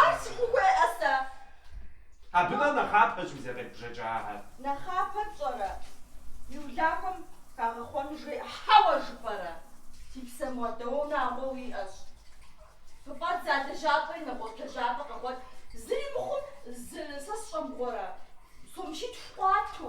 Ар сыхуейӏэ сэ. Абы нэхърэ нэхъапэщ уи зэкъедбжэкӏагъэр. Нэхъапэ пщӏэрэ? Уи улахуэм хагъэхъуэну жеӏэ. Хьэуэ жыпӏэрэ? Ди псэ, модэ унагъуэ уиӏэщ. Хыфӏэдзэ а лэжьапӏэри нэгъуэщӏ лэжьапӏэ къэгъуэт. Зыри мыхъумэ, сэ сщӏэ мыгъуэрэ? Сом щитху къуату.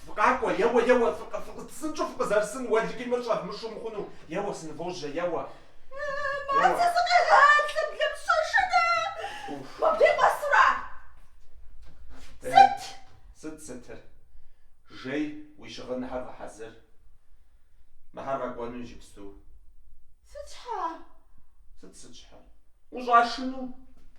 Фыкъакӏуэ, еуэ, еуэ, фыкъы, фыкъы псынщӏэу фыкъызэрысын, уэлэхьи мыр щӏэвмышу мыхъуну, еуэ, сынывожьэ, еуэ. Мазэ зыкъегъалӏэ, блэмыщэшынэ! Уф. Мыбдей къуэсура? Сыт? Сыт сытыр? Жэ, уи щыгъыныхьэр гъэхьэзыр. Мыхьэр къэкӏуэну иджыпсту. Сыт щхьэ? Сыт сыт щхьэр? Ущӏашыну.